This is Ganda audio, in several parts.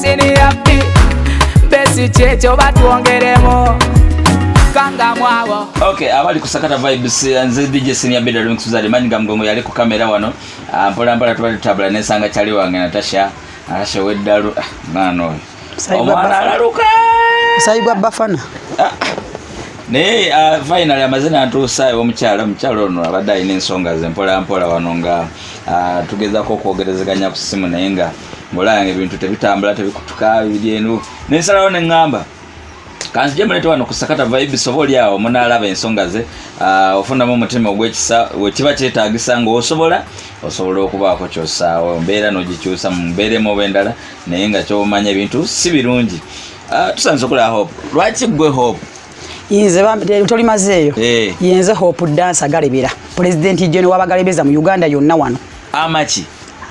siniyapi besi kyekyo batwongeremu kangamwabo okay abali kusakata vibes eh, nze dj senior bidder links uzali manyi gamgongo yali ku kamera wano ah, mpola mpola tubali tabula nesanga chali wange natasha natasha weddalu ah, mwana oyo omwana alaluka sayibwa bafana ah, naye finally amazina ntuusa omukyala omukyala ono abadde alina ensonga ze mpola mpola wano nga Ah, tugezako okwogerezeganya ku simu naye nga ngaolaba nga ebintu tebitambula tebikutuka biryenu nensalawo neŋŋamba kanzije mulete wano ku sakata vibes oba oli awo munaalaba ensonga ze ah, ofunamu omutima ogwekisa wekiba kyetaagisa ngaosobola osobola okubaako kyosaawo mbeera nogikyusa mu mbeera emu oba endala naye nga kyomanya ebintu si birungi ah, tusandiza okulaba hope lwaki gwe hope inze toli mazeeyo eh. yenze hope dance agalebera president jone wabagalebeza mu uganda yonna wano amaki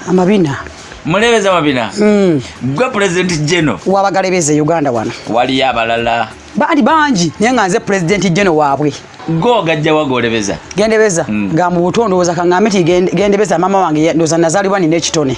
amabina mulebeza mabina mm. gwe president jeno wabagalebeza e uganda wano waliyo abalala bali bangi naye nga nze president jeno waabwe go gajja wagolebeza gendebeza mm. nga mu buto ndowooza kaŋŋambe ti gendebeza maama wange ndowooza nazaalibwa nina ekitone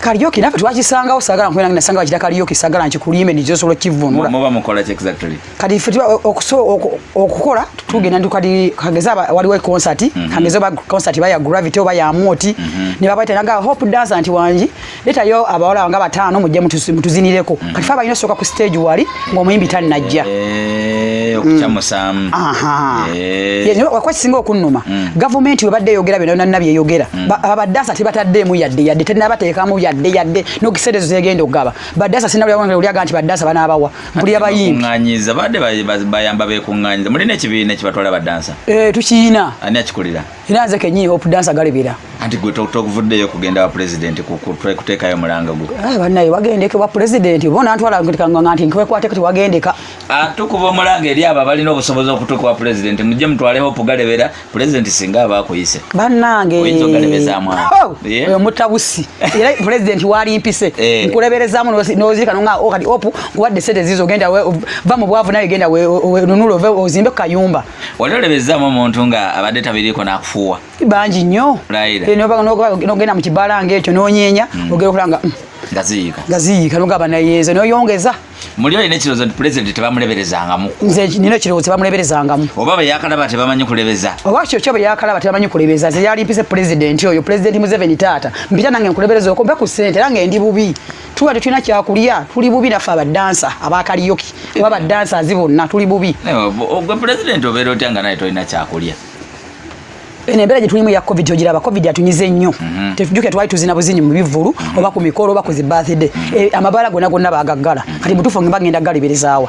kaliyoki nafe twakisangawo sagala nkwena ngina sanga bakira kaliyoki sagala nkikulime nizo solo kivunula muba mukola exactly kadi fe tuba okuso okukola tugenda ndu kadi kageza wali wa concert mhm. kageza ba concert ba ya gravity oba ya moti mhm. ne baba tena ga hope dance anti wanji leta yo abawala nga batano mujje mutuzinireko mhm. kadi fa bayina soka ku stage wali ng'omuyimbi tannajja eh, okukyamusaamu mm. eh. wakuba kisinga okunnuma mm. gavumenti webadde eyogera byona byona nabyo eyogera mm. abadaasa tebataddeemu yadde yadde tenabateekamu yadde yadde nokiseera ezo zegenda okugaba badaasa sinabulyaga nti badaasa banaabawa mpulira bayimbibayamba bekuŋŋanyiza mulina ekibiina ekibatwala badansa eh, tukiyina ani akikulira era nze kenyini hope dansa galibira anti gwe tokuvuddeyo kugenda wa president kuteekayo mulanga gwe eh, banaye wagendeke wa president bona ntwala nga nti nkwekwate kati wagendeka ah, tukuba omulanga eri abo abalina obusobozi okutuuka wa president mujje mutwale hope galebera president singa aba akuyise banange oh, oyo mutabusi era president wali mpise eh. nkuleberezamu nozirika nonga oh, kati hope nkuwadde sente zizo genda va mu bwavu naye genda nunula ozimbe ku kayumba wali olebezzaamu omuntu nga abadde tabiriiko nakufuuwa bangi nnyo nogenda mu kibala nga ekyo nonyeenya hmm. ogera okulanga hmm, ngaziyiika ngaziyiika nogaba nayeeza noyongeza muli olina ekirowoozo nti pulezidenti tebamuleberezangamu nze nina ekirowoozo tebamuleberezangamu oba bwe yakalaba tebamanyi kulebeza oba kyo kyo bwe yakalaba tebamanyi kulebeza nze yali mpise pulezidenti oyo pulezidenti museveni taata mpita nange nkulebereza okompe ku ssente era nga endi bubi tuba tetulina kyakulya tuli bubi naffe abadansa abakaliyoki oba badansa azi bonna tuli bubi ogwe pulezidenti obeera otya nga naye tolina kyakulya eno embeera gye tulimu ya covid ogiraba covid atunyiza ennyo mhm. tetujuke twali tuzina buzinyi mu bivvulu mhm. oba ku mikolo oba ku zi birthday mhm. eh, amabaala gonna gonna bagaggala kati mutuufu nge bagenda galiberezaawa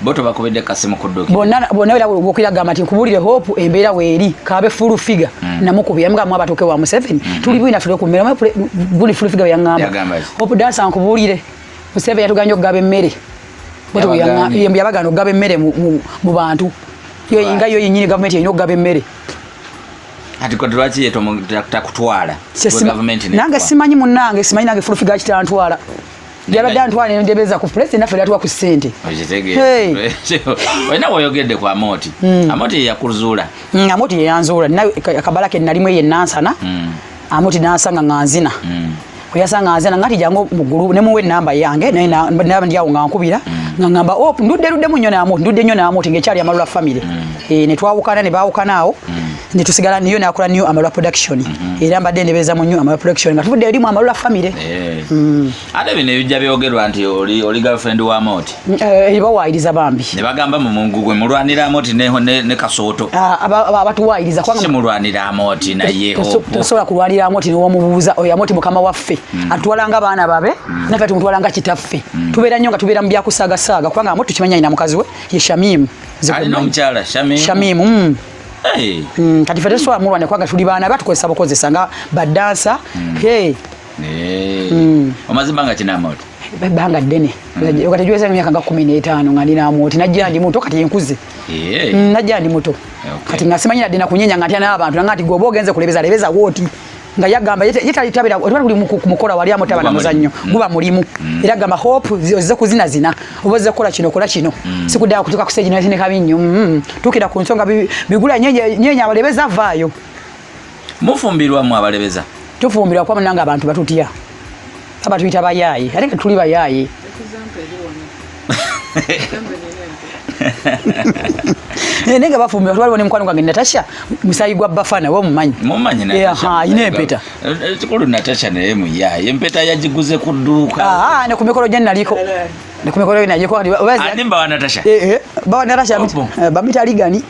bo tobakubidde kasimu kudduki bonna bonna era gwokira gamba nti nkubulire hope embeera weeri kaabe full figure mm. namukubira yamugamba mwa batuuke wa museveni mm. tuli bwina tuli ku mmere buli full figure yangamba hope dansa nkubulire museveni yatuganya okugaba emmere yabagana okugaba emmere mu bantu nga yo yenyini gavumenti erina okugaba emmere kati kati lwaki yetakutwala nange simanyi munange simanyi nange fulufiga kitantwala yabadde antwala nendebeza ku pulesi naffe latuwa ku sente olina woyogedde ku amoti hmm. amoti yeyakuzuula hmm, amoti yeyanzuula naye akabala ke nalimu eyo enansana hmm. amoti nansanga nga nzina oyasanga nzina ngati jangu mugulu nemuwa enamba yange naye naba ndyawo nga nkubira nga ngamba oh, ndudde luddemu nnyo namoti ndudde nnyo namoti ngaekyali amalula famire eh, netwawukana nebawukana awo netusigala niyo nakola niyo amalwa production mm -hmm. era mbadde ndebeza mu niyo amalwa production nga tuvudde erimu amalwa family hey. Eh. mm. ate bino ebijja byogerwa nti oli, oli girlfriend wa moti mm, eh, bawaayiriza bambi ne bagamba mu mungu gwe mulwanira moti ne, ne, ne kasooto ah, abatuwaayiriza aba, si mulwanira moti naye tosobola kulwanira moti newomubuuza oyo amoti mukama waffe mm. atutwalanga baana babe mm. nafe tumutwalanga kitaffe mm. tubeera nnyo nga tubeera mu byakusaagasaaga kubanga amoti tukimanyi alina mukazi we ye shamimu alina omukyala shamimu, shamimu. Mm. Hey. Mm, kati fete swa mulwane kwanga tuli bana batukozesa bukozesa nga badansa. Mm. Hey. Hey. Mm. Omazima nga kina moto. Banga dene. Mm. Wakati juweza nga miaka nga 15 nga nina moto. Najja ndi moto kati yenkuze. Hey. Mm, najja ndi moto. Okay. Kati ngasimanyira dena kunyenya ngati ana abantu ngati gobo genze kulebeza lebeza woti. nga yagamba yetalitabira otwala buli mukola wali amutaba na muzannyo mm. guba mulimu mm. era gamba hope ozze kuzina zina oba ozze kukola kino kola kino mm. sikuddala kutuuka ku stage nayotine kabi nnyo tuukira ku nsonga bigula nyenya abalebeza avaayo mufumbirwa mu abalebeza tufumbirwa kuba munanga abantu batutya Aba tuita bayayi. Ate ka tuli bayayi. Eh, nega bafumbi watu waliwo nemukwano gwange natasha musayi gwa bafana we omumanyi mumanyi eh, alina empeta eh, kikulu natasha naye muyaye empeta yagiguze ku dduuka ah, ne ku mikolo gye naliko ne ku mikolo gye naliko ah, bawa natasha bawa natasha bamita ligani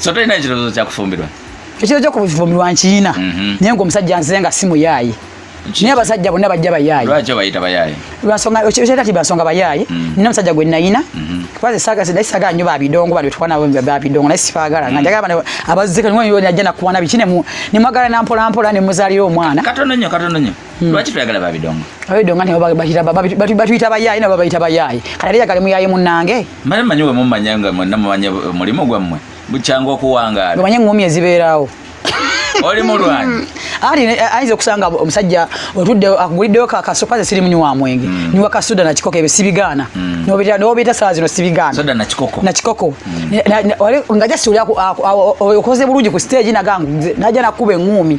so tolina ekirowoozo kyakufumbirwa ekiro kyo kufumbirwa nkiyina mhm. naye nga omusajja nzize nga si muyaaye naye abasajja bonna bajja bayaaye lwaki obayita bayaaye lwansonga kati bansonga bayaaye mhm. nina omusajja gwe nayina mhm. kubaze sagazidde sagala nyo babidongo bali tuwana nabo babidongo naye sibagala nga njagala bana abazze kanywa yo najja nakuwana biki ne mwagala nampola mpola ne muzalira omwana katono nyo katono nyo Hmm. lwaki toyagala babidongo abidongo nti batuyita bayaaye nabo babayita bayaaye kati ate yagale muyaaye munnange male manyi we mumanya nga mwenna mumanya mulimu gwammwe bukyanga okuwangaala omanye engumi ezibeerawo oli mulwanyi ali eh, ayinza okusanga omusajja otudde akuguliddeyo kakasopaze siri munywi wa mwenge hmm. niwa kasuda nakikoko ebyo sibigaana hmm. nobeeta sala zino sibigaana nakikoko nga jasi oli okoze bulungi ku stage nagangu naja nakuba eŋumi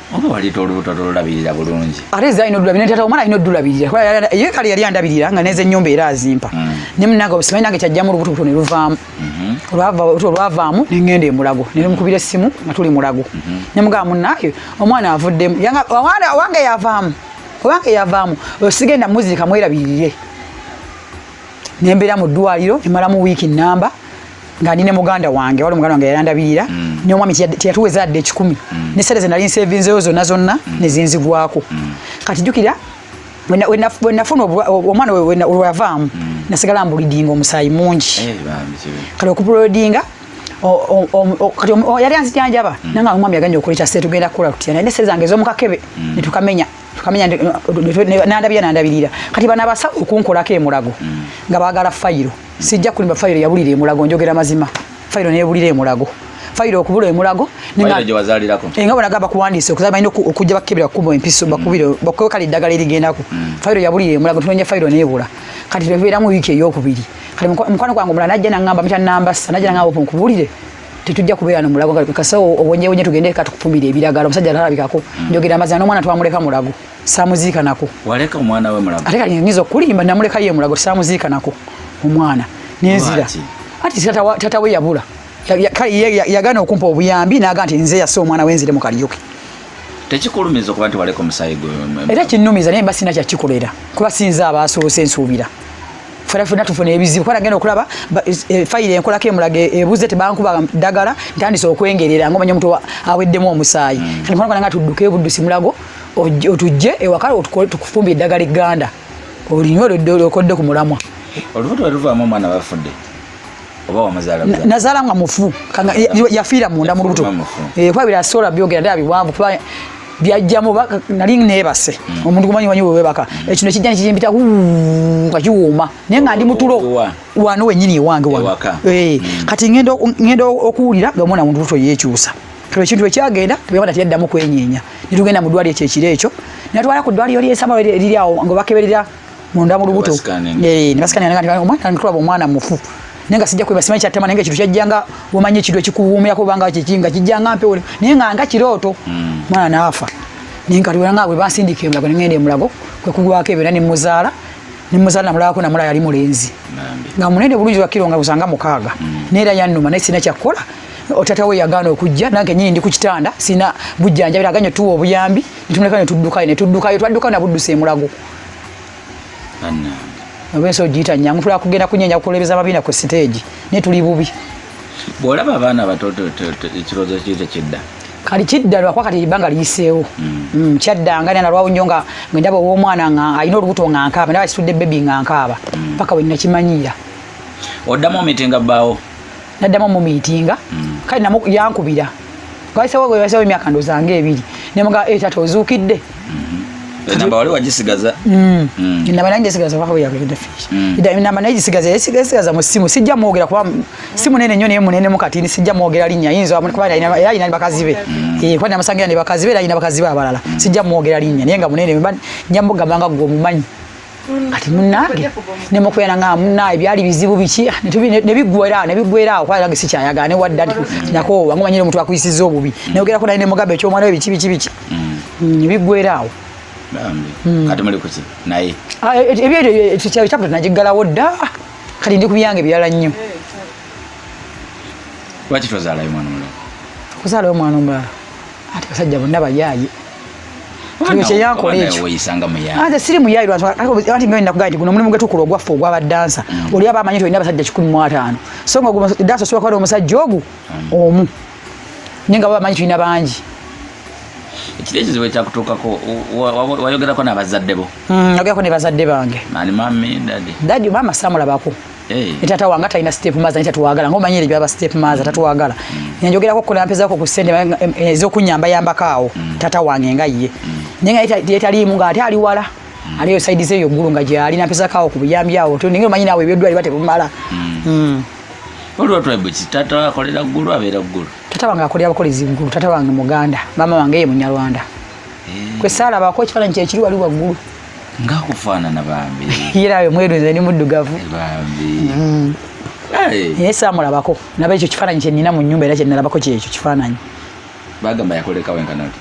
oba waleta olubuto tolulabirira bulungi ate eza alina odulabirira tata omwana alina odulabirira ye kale yali andabirira nga neza ennyumba era azimpa mm. ne munange simanyi nange kyajjamu olubutobuto ne luvaamu mm-hmm. olwavaamu ne ngenda emulago ne mukubira essimu nga tuli mulago mm-hmm. ne mugamba munange omwana avuddemu owange yavaamu owange yavaamu sigenda muzirika mwerabirire nembeera mu ddwaliro emalamu wiiki namba nga ndi ne muganda wange wali muganda wange yayandabirira mm. ne omwami teyatuweza adde ekikumi mm. ne sente ze nali nsevinzeyo zonna zonna mm. ne zinzigwako mm. kati jjukira wenafuna omwana olwavaamu mm. nasigala mbulidinga omusaayi mungi eh, kale okupulodinga kati yali anzijanjaba mm. nanga omwami yaganya okola ekyase tugenda kukola tutya naye nesente zange ez'omukakebe mm. ne tukamenya tukamenya nandabira nandabirira kati bana basa okunkolako emulago nga baagala fayiro sijja kulimba fayiro yabulira emulago njogera mazima fayiro nebulira emulago fayiro okubula emulago enga eh, bonagamba kuwandiisa okuza balina okujja bakebera kukuba empiso mm. bakubire bakuwe kale eddagala erigendako mm. fayiro yabulira emulago tunonya fayiro nebula kati twebeeramu wiiki eyokubiri kati mukwano gwange omulala najja nangamba mita nambasa najja nangamba opo nkubulire tetujja kubeera no mulago kati kasa obonyebonye tugende katukupumira ebiragala omusajja atalabikako mm. njogera amazima n'omwana twamuleka mulago samuziika nako waleka omwana we mulago ate kati nyiza okulimba namuleka ye mulago samuziika nako omwana nenzira ati tata we yabula yagana okumpa obuyambi naga nti nze yasa omwana wenzire mu kaliyoke tekikulumiza okuba nti waleka omusayi gwe era kinumiza naye mba sina kyakikolera kuba sinza abaasoose nsuubira fena fena tufuna ebizibu kwa nagenda okulaba e, fayiro enkola ke mulage ebuze tebankuba dagala ntandise okwengerera ngo manyo mtu aweddemu omusayi mm. kani kwa nga tudduke buddu simulago otujje ewaka tukufumbye eddagala egganda olinywa okodde ku mulamwa olubuto weruvaamu omwana bafudde oba wamuzaala nazaala nga mufu yafiira munda mu lubuto eh, kuba birasobola byogera ddala biwanvu kuba byajjamu nali nebase hmm. omuntu gumanyi wanyi wewebaka hmm. ekino ekijja nekijimpita nga kiwuuma naye nga ndi mutulo wano wenyini ewange wano eh, hmm. kati ngenda okuwulira nga omwana muntu lubuto yekyusa Tulo ekintu ekyagenda tubewada tiyaddamu kwenyeenya ne tugenda mu ddwaliro ekyo ekiro ekyo ne batwala ku ddwaliro ly'ensama eriri awo nga bakeberera munda mu lubuto ne basikanira nga omwana tulaba omwana mufu naye nga sijja kweba simanyi kyattama naye nga ekintu kyajjanga womanyi ekintu ekikuwuumirako obanga kiki nga kijjanga mpewo naye nga nga kirooto hmm. mwana naafa naye nga tuwera nga bwe bansindika emulago ne ngenda emulago kwe kugwako ebeera ne muzaala ne muzaala namulabako namulaba yali mulenzi nga munene bulungi wakiro nga busanga mukaaga hmm. naye era yannuma naye sirina kyakkola otata we yagaana okujja nange nyini ndi ku kitanda sina bujjanjabira aganye tuwa obuyambi nitumuleka ne tuddukayo ne tuddukayo twaddukayo nabuddusa emulago oba ensi ogiyita nyangu tula kugenda kunyenya kukulebeza mabina ku siteegi naye tuli bubi bwolaba abaana abato ekirowoozo kiyita kidda kali kidda lwakuba kati ebbanga liyiseewo mm. mm, kyaddanga nana lwawo nnyo nga ndaba ow'omwana nga alina olubuto nga nkaaba ndaba kitudde bebi nga nkaaba mm. paka wennakimanyiira oddamu omiti nga bbaawo naddamu omumiitinga mm. kale namu yankubira wayisewowayisewo emyaka ndoza nga ebiri nemuga e eh, tata ozuukidde mm-hmm. enamba wali wagisigaza mm. mm. enamba naye njisigaza wayagendafienamba naye gisigaza yesigaza mu simu sijja mwogera kuba simu nene nyo naye munene mukatini sijja mwogera linnya yinza kuba era alina ne bakazi be eh, kuba namusangira ne bakazi be era alina bakazi be abalala sijja mwogera linnya naye nga munene njamugamba nga gwe omumanyi kati munange nemukuyana nga munaye byali bizibu biki nebigwera nebigwera awo kwalage sikyayagala ne wadda nti nakoowa nga omanyire omuntu akuyisiza obubi neyogerako naye nemugambe ekyomwana we biki biki biki mm. Mm, bigwera awo mm. kati muli kuki naye ah, e, e, e, ebyochapta nagiggalawo dda kati ndi ku byange birala nnyo lwaki tozalayo mwana omulala kuzalayo mwana omulala ati basajja bonna bayaaye kyeyankoleekyoanze siri muyayi lwati myo nakugaa nti guno omulimu gwetukula ogwaffe ogwa badansa mm. oli aba amanyi tolina abasajja kikumi mu ataano so nga dansa osobola kuba omusajja ogu mm. omu naye nga baba amanyi tulina bangi ekiro ekizibu ekyakutuukako wayogerako nabazadde bo mm, nayogerako ne bazadde bange dadi maama samulabako Hey. Tata wanga talina step mother nita tuwagala ngoma nyere byaba step mother tatuwagala mm. njogera ko kula mpeza ko kusende ezo eh, kunyamba yamba kawo mm. tata wange nga ye mm. nenga ita ita limu nga ati ali wala mm. aliyo side zeyo gulu nga jali na pesa kawo kubiyambi awo to ninge manyina we byodwa ibate bumala mm. mm. Olwa tribe tata akolera gulu abera gulu tata wanga akolera abakolezi gulu tata wange muganda mama wange ye munyarwanda hey. Eh. kwesala bako chifana nche chiri wali wa gulu nga kufaanana bambi era ayo mweru nze ni muddugavu eh, bambi mm. naye saamulabako naba ekyo kifaananyi kyenina mu nyumba era kyenalabako kyekyo kifaananyi bagamba yakoleka wenkanoti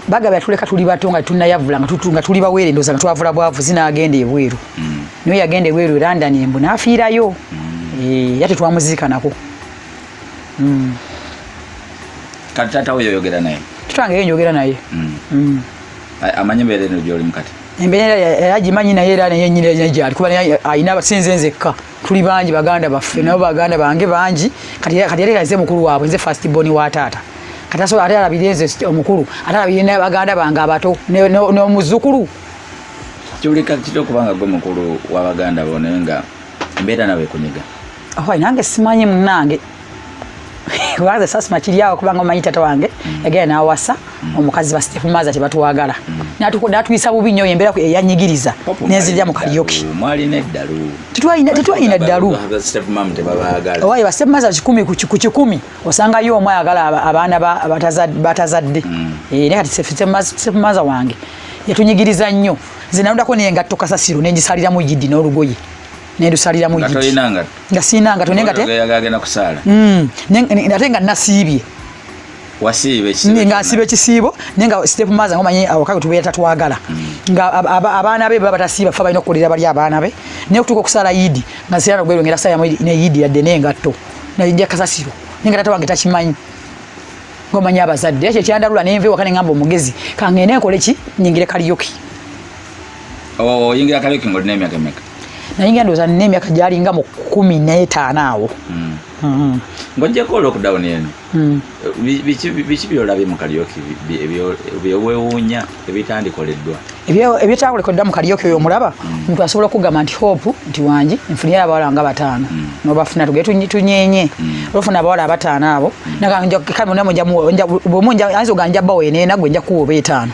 bagaba yatuleka tuli bato nga tunayavula nga tuli bawere ndoza nga twavula bwavu zinagenda ebweru mm. niyo yagenda ebweru london embu nafiirayo mm. eh, yate twamuziikanako mm. kati tata oyo oyogera naye tutange yo njogera naye amanyi embeera eno gyolimu kati embeera era gimanyi naye era naye nyina naye gyali kuba naye alina abasinze nzekka tuli bangi baganda baffe nabo baganda bange bangi kati kati yali aze mukulu waabwe nze first born wa taata kati asobola ate alabire nze omukulu ate alabire ne baganda bange abato n'omuzukulu kiwulika kitya okuba nga gwe mukulu wa baganda bo naye nga embeera nawe ekunyiga ahoy nange simanyi munange kubanza sasima kiryawo kubanga omanyi tata wange mm. yagenda nawasa mm. omukazi basitefumaaza tebatwagala mm. natuyisa bubi nyo embeera eyanyigiriza nenzirira mu kalyoki tetwalina ddalu owaye basitefumaaza kikumi ku kikumi osangayo omu ayagala abaana batazadde eh, naye kati sitefumaaza wange yatunyigiriza nnyo nze nanudako nengatto kasasiro nengisaliramu yidi n'olugoye nendusaliramu nga sirina ngato naye ngateagenda kusaala mm. ate nga nasiibye nga nsiiba ekisiibo naye nga step maza nga omanyi awaka gwe tubeera tatwagala mm. nga abaana be baba batasiiba fe balina okukolera bali abaana be naye okutuuka okusaala yidi nga nsirana okwerongera saa yamu ne yidi yadde naye ngatto naija kasasiro naye nga tata wange takimanyi ngomanyi abazadde ekyo ekyandalula nenva ewaka ne ngamba omugezi kangende nkole ki nyingire kaliyoki oyingira oh, kaliuki ng'olina emyaka emeka nayingira ndowooza nina emyaka gyalinga mu kumi n'etaano awo hmm. Hmm. ng'ojjeko lockdown eno hmm. biki byolabye mu kaliuki byewewuunya ebitandikoleddwa ebitakolekoddwa mu kaliuki oyo omulaba omuntu asobola okugamba nti hope nti wangi nfunira abawala nga bataano nobafuna tuge tunyenye olufuna abawala abataano abo nagamba nja kale munamu nja bwomu nja ayinza ogamba nja bawo eno enagwe nja kuwa oba etaano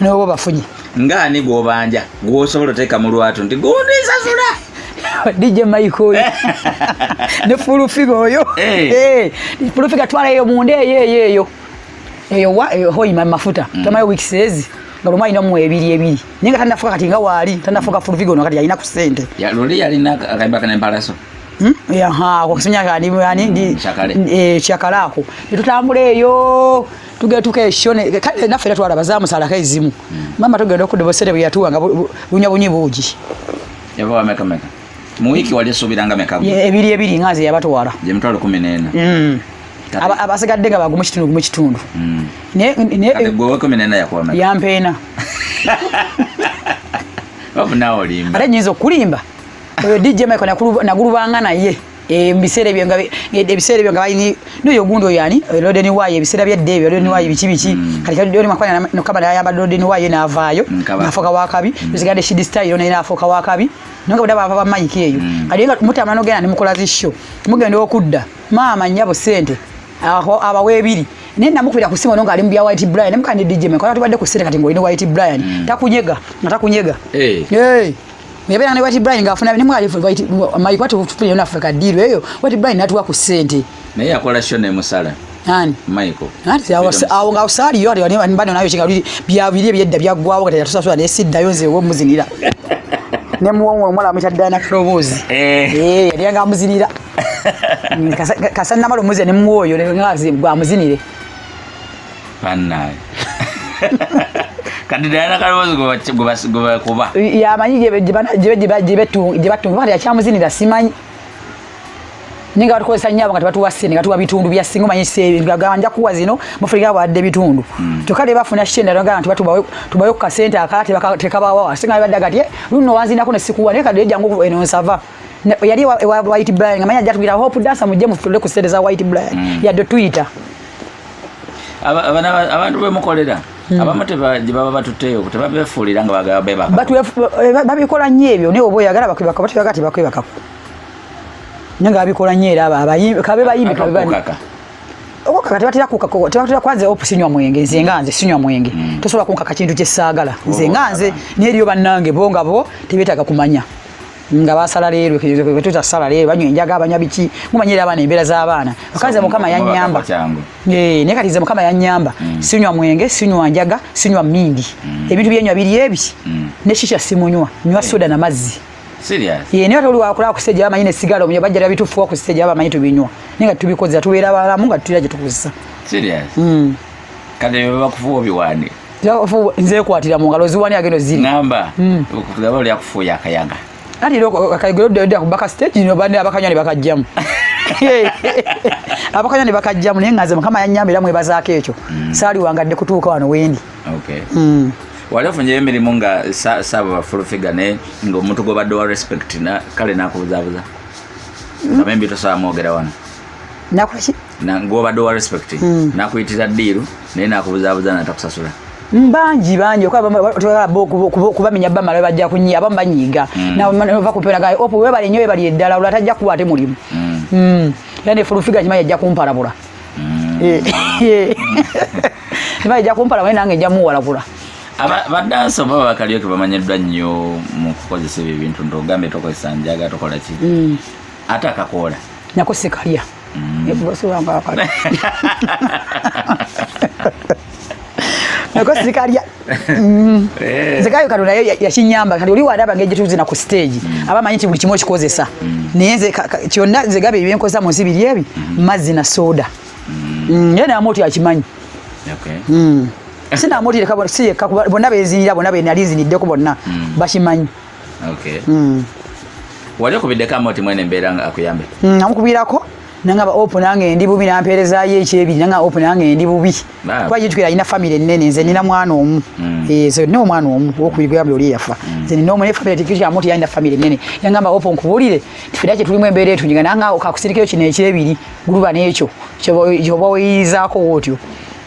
nobo bafunye nga ani gwobanja gwosobola oteeka mu lwatu nti gundi nsasula DJ Mike oyo ne full figure oyo eh. eh full figure twala eyo munde eyo eyo eyo eyo wa eyo hoi mama mafuta mm. kama week says nga luma ina mu ebiri ebiri ninga tanda fuka kati nga wali tanda fuka full figure no kati yalina ku sente ya luli yalina akaiba kana embaraso Hmm? yaha kusinya kadi ani ndi hmm, eh, chakala ako tutambule eyo tugetuka ekyo kale naffe era twalaba zamusalako ezimu hmm. maama tugenda okudda obusente bwe yatuwa nga bunya bunyi buugi mu wiiki wali esuubiranga meka ebiri ebiri nga nze yabatwala gye mitwalo kumi n'ena hmm. abasigadde nga bagumu kitundu gumu kitundu hmm. yampeena ate nyinza okukulimba oyo dj michael nagulubanga naye Eh, mubiseera ebyo nga eh, ebiseera ebyo nga balini noyo gundi oyo ani eh, lodeni wayo ebiseera byedda ebyo lodeni wayo biki biki mm. kati kadoni makwana nokaba nayamba lodeni wayo naavaayo mm, nafuuka wakabi mm. zigade shidi style naye nafuuka wakabi nonga buda bava bamayika eyo kati nga mutamana ogenda nemukola zisho mugenda okudda maama nyabo sente abawa ebiri naye namukubira ku simu nonga ali mu bya white brian namukandi dj mekwana tubadde ku sente kati ngaolina white brian takunyega nga takunyega Nebera ne White Brian ngafuna ne mwali White my kwati tupile na Africa deal eyo White Brian natuwa ku sente. Na yeye akola show ne musala. Nani? Michael. Nani ya wasa au nga usali yori wani wani bado nayo chinga bili bya bili bya bya gwawo kati yatusa sura ne sida yonze wo muzinira. Ne muwongo omwala amita dana krobozi. Eh. Eh yali anga muzinira. Kasana malo muzi ne muwoyo ne ngazi gwa muzinire. bannange kati dayana kalowoozi gwebakuba yamanyi gyebatunga kati yakyamuzinira simanyi ninga batukozesa nyabo nga tebatuwa sente nga tuwa bitundu bya singa omanyi sebigaga nja kuwa zino mufulika bwadde bitundu hmm. kyokka ne bafuna shenda nagamba nti tubawe ku kasente akala tekabawawa singa badda gati eh, luno wanzinako ne sikuwa naye kadde jangu eno nsava yali ewa white blind nga manya jatubira hope dancer mujje mufutule ku sente za white blind mm. yadde tuyita abantu bemukolera mm. abamu tebaba batutteyo tebabefuulira nga bagala bebaka babikola nnyo ebyo naye oba oyagala bakwebaka batebagala tebakwebakako naye nga babikola nnyo era kabe bayimbi kabebaka okukaka tebatera kukako tebatera kwanze opu sinywa mwenge nze nga nze sinywa mwenge mm. tosobola kunkaka kintu kyesaagala nze nga nze naye eriyo bannange bo nga bo tebeetaaga kumanya nga basala leero kwetuta sala leero banywa enjaga abanya biki mumanyira abaana embeera z'abaana akaze mukama yanyamba eh, naye kati ze mukama yanyamba mm. sinywa mwenge sinywa njaga sinywa mindi mm. ebintu byenywa biri ebi mm. ne shisha simunywa nywa eh. soda na mazzi naye ate oli wakola ku stage abamanyi ne sigala omuyo bajja lya bitufuwa ku stage abamanyi tubinywa naye nga tubikozesa tubeera balamu nga tutera gye tukozesa kati bye bakufuwa obiwaani nze kwatira mu ngalo ziwani agendo ziri ngamba hmm. kugaba oli akufuuya akayaga kati era akayogero dda kubaka stage no bane abakanywa ne bakajjamu abakanywa ne bakajjamu naye nga nze mukama yanyamba era mwebazaako ekyo hmm. saali wangadde kutuuka wano wendi hmm. wali ofunyeyo emirimu nga saaba full figure naye ngaomuntu gwobadde wa respect kale nakubuzabuza amembi tosaba mwogera wano nakuki na ngoba do respect mm. nakuyitira diru naye nakubuzabuza natakusasula mbanji banji okubamenya bamala bajja kunyia abamu banyiiga mm. nava kuperaga opo webale nyo webali eddala olwo atajja kuwa ate mulimu mm. mm. era nefulufiga kimanyi ajja kumpalabula mm. eh, eh. kimanyi ajja kumpalabula nange ejja muwalagula badansi oba bakalyoke bamanyiddwa nnyo mu kukozesa ebyo ebintu nti ogambe tokozesa njaga tokola ki mm. ate akakoola nako sikalya nako sikalya nzekayo kano naye yakinyamba kati oli walaba ngeri gyetuzina ku stage mm. aba manyi nti buli kimu okikozesa mm. naye nze kyonna nzegaba ebyenkozesa munsi biri ebi mm. mazzi na soda naye namu oti akimanyi sinamu oti bonna bezinira bonna benali nziniddeko bonna bakimanyi okay mm. wali okubiddeko amoti mwene embeera nga akuyambe mm, namukubirako nangaba opu nange ndi bubi nampeerezayo ekyebiri nanga opu nange ndi bubi kuba yitukira alina famiry ennene nze nina mwana omu mm. eh, nze nina omwana omu wokubiri gweyambula oli eyafa mm. nze nina omu naye famiry tikikyamu ti yalina famiry ennene nangamba opu nkubulire tifira kye tulimu embeera etunyiga nanga kakusirikeyo kino ekyebiri guluba nekyo kyoba weyiyizaako wootyo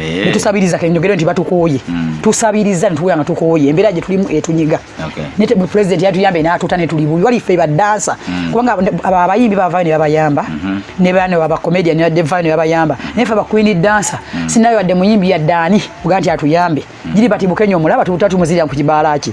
Eh. netusabiriza kenyogere nti batukooye hmm. tusabiriza nituwera nga tukooye embeera gye tulimu etunyiga ne pulezidenti yatuyambe n'atuta ne tuli bubi wali ffe badansa hmm. kubanga abayimbi bavayo ne babayamba hmm. ne bano abakomedian yadde vayo ne babayamba hmm. naye ffe abakwini dansa sinayo wadde muyimbi yadde ani oga nti atuyambe giri bati bukenya omulaba tubutatumuziria ku kibaala ki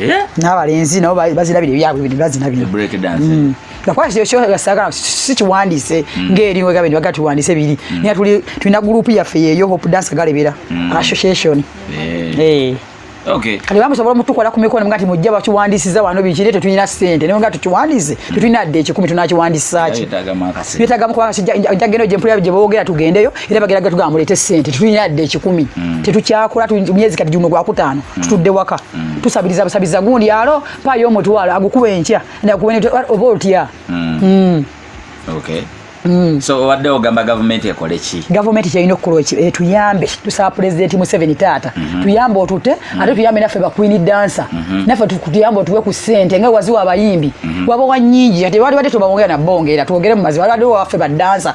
Eh? n'abalenzi nabo bazina bino ebyabwe bino bazina bino mm. nakwasagala si kiwandiise mm. ngaeri wegaba nibaga tuwandiise biri mm. naye tuli tulina gurupu yaffe yeeyo hope dance galebera association eh. Eh. kati bamusobola omutukola ku mikono nga ti mujja bakiwandiisiza wano bikire tetulina sente naye nga tukiwandiise tetulina dde ekikumi tunakiwandiisaki byetagamu kubanga njagenda gyempulira gye boogera tugendeyo era bagera gatugamba mulete sente tulina yadde ekikumi mm. tetukyakola myezi kati gino gwakutaano mm. tutudde waka mm. tusabiriza busabiriza gundi alo payo omutwalo agukuba enkya oba otya so obadde ogamba gavumenti ekole ki gavumenti kyerina okukola eh, tuyambe tusaba pulezidenti museveni taata mhm. tuyambe otute mhm. ate tuyambe naffe bakwini dansa mhm. naffe tuyambe otuwe ku sente nga waziwa abayimbi waba wanyingi ate wali badde tubawongera nabongera twogere mu mazi wali badde waffe badansa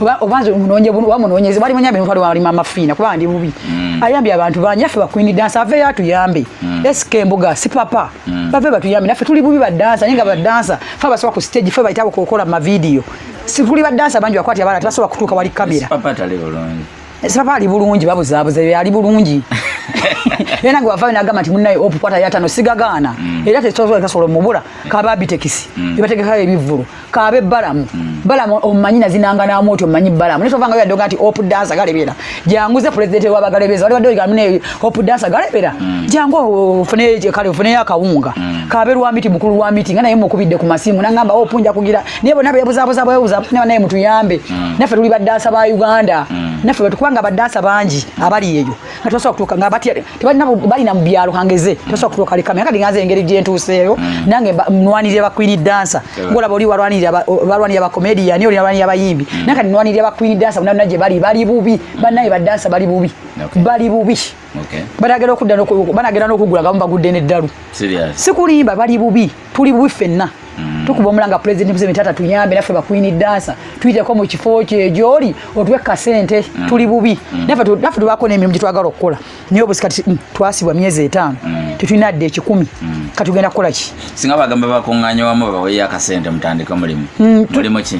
oba oba nze munonye bunu oba munonye zibali munya bintu aliwa alima mafina kuba ndi bubi mm. ayambi abantu banje afi bakwini dance ave ya tuyambe mm. SK mbuga si papa mm. bave batu yambi nafe tuli bubi ba dance ninga ba dance fa basoka ku stage fa baitabo kokola ma video si tuli ba dance banje akwati abana tasoka kutuka wali kamera papa tale bulungi eh, si papa ali bulungi babu zabu ze ali bulungi Yena gwa vawe nagama ti munaye opu kwata yatano sigagana. Mm. Era te tsozo kasolo mubura kababi tekisi. Mm. Ibateke kaye bivuru. kaabe balamu mm. balamu omumanyi nazinanga naamu oti omumanyi balamu naye tovanga yadoga nti hope dansa galebera jangu ze pulezidenti wabagalebeza wali badoga mune hope dansa galebera mm. jangu ofune kale ofuneyo akawunga mm. kaabe lwa miti mukulu lwa miti nga naye mukubidde ku masimu nangamba hope nja kugira naye bonna bebuzabuza bwebuza naye naye mutuyambe mm. naffe tuli badansa ba uganda mm. naffe kubanga badansa bangi abali eyo nga tebasobola kutuuka nga batya tebalina bali na mu byalo kangeze tebasobola kutuuka leka meka ndingaza engeri gye ntuuseeyo mm. nange nnwanirira ba queen dancer ngolaba oli walwanirira balwanirira ba comedian oli walwanirira bayimbi mm. nange nnwanirira ba queen dancer bonna gye bali bali bubi bannaye ba dancer bali bubi bali bubi banagera okudda banagera n'okugula nga mubagudde n'eddalu sikulimba bali bubi tuli bubi fenna mm. tukuba omulanga president museveni taata tuyambe naffe bakwini dansa tuyiteko mu kifo kyejooli otuwe kasente mm. tuli bubi mm. naffe tubaako n'emirimu gyetwagala okukola naye obusika mm, twasibwa myezi etaano mm. tetulina dde ekikumi mm. katugenda kukola ki singa bagamba bakuŋŋanya wamu babaweyo akasente mutandike omulimu mm. mulimu ki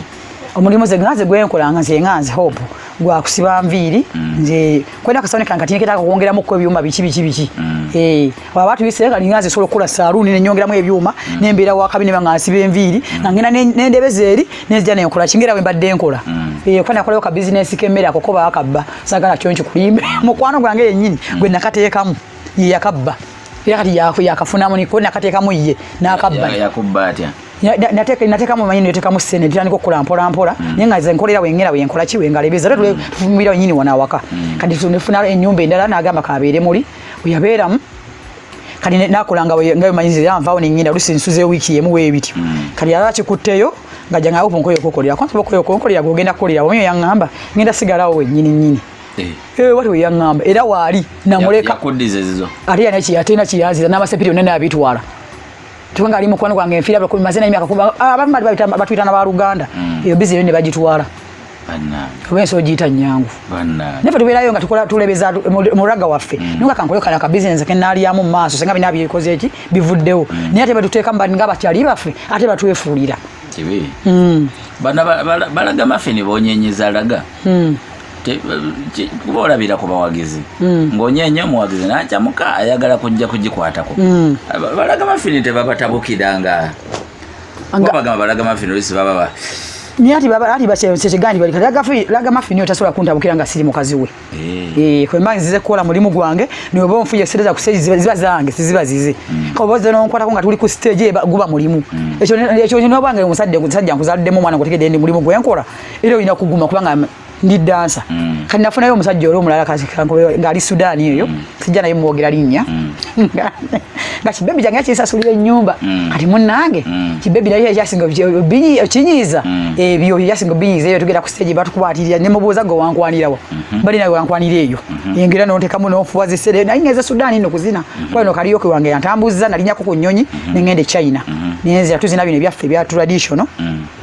omulimu ze nganze gwenkola nga nze nganze hope gwa kusiba nviiri mm. nze kwenda kasawuni kange kati nketaka kwongeramu ko ebyuma biki biki biki mm. eh baba batu bise kali nganze solo kula saluuni ne nyongeramu ebyuma mm. ne mbera wa kabine banga nsiba enviiri nga ngina ne ndebeze eri ne zija ne nkola kingera we mbadde nkola eh kwenda kola ka business kemera kokoba akabba sagala kyonki kulimbe mukwano gwange yenyini gwe nakatekamu yakabba yakati yakafuna muni ko nakatekamu ye nakabba yakubba atya natekamu manyi netekamu sente ntandika okukola mpola mpola mm. naye nga nze nkolera wengera wenkola ki wengalebeza era tufumira wenyini wana awaka mm. kati tunefuna enyumba endala nagamba kabeere muli weyabeeramu kati nakolanga nga manyi nze yanvawo nengenda olusi nsuze wiiki yemu webityo mm. kati yaba kikutteyo nga jangawo opunkoyo okukolera kwansoba okoyo okukolera gwogenda kukolera wamyo yangamba ngenda sigalawo wenyini nyini Eh. Eh, wali weyaŋŋamba era waali namuleka ate yanakiyaziza n'amasepiri yonna naabitwala tuwenga ali mukwano gwange nfiira bwe kumaze na emyaka kuba ah, abamu bali bayita batuyita na baluganda mm. eyo bizi ne bagitwala oba ensi ogiyita nyangu nafe tubeerayo nga tukola tulebeza muraga waffe mm. nonga kankole kala ka bizinesi ke naalyamu maaso senga bina byebikoze eki bivuddewo mm. naye ate betuteeka mubani nga bakyali baffe ate batwefuulira balaga mafe ne bonyenyeza laga kuba olabira ku bawagizi hmm. ng'onyeenya omuwagizi n'acamuka ayagala kujja kugikwatako hmm. balaga mafini tebabatabukira nga bagamba balaga mafini olusi bababa naye ati ati basekiganyi bali kati laga mafini otasobola kuntabukira nga siri mukazi we eh. Eh, kwemba nzize kukola mulimu gwange nioba onfuye sente za kustage ziba zange siziba zize hmm. kaba oze nonkwatako nga tuli ku stage guba mulimu ekyo ekyo nobwange omusajja omusajja nkuzaddemu omwana ngotegedde ndi mulimu gwenkola era olina kuguma kubanga ndi dansa mm. kati nafunayo omusajja oli omulala ngaali sudaani eyo mm. sijja naye mwogera linnya mm. nga kibebi kyange yakinsasulira ennyumba mm. kati munange mm. kibebi naye ekyasinga okinyiiza mm. ebyo byasinga obinyiiza eyo tugenda ku stage batukwatirira ne mubuuza gwe wankwanirawa mm -hmm. bali nawe wankwanira eyo mm -hmm. engera nontekamu nofuwa zisere naye ngeze sudaani no kuzina mm -hmm. kwano kaliyoke wange yantambuzza nalinyako ku nnyonyi mm -hmm. ne ngende china mm -hmm. nenzira tuzina bino ebyaffe ebya traditional mm -hmm.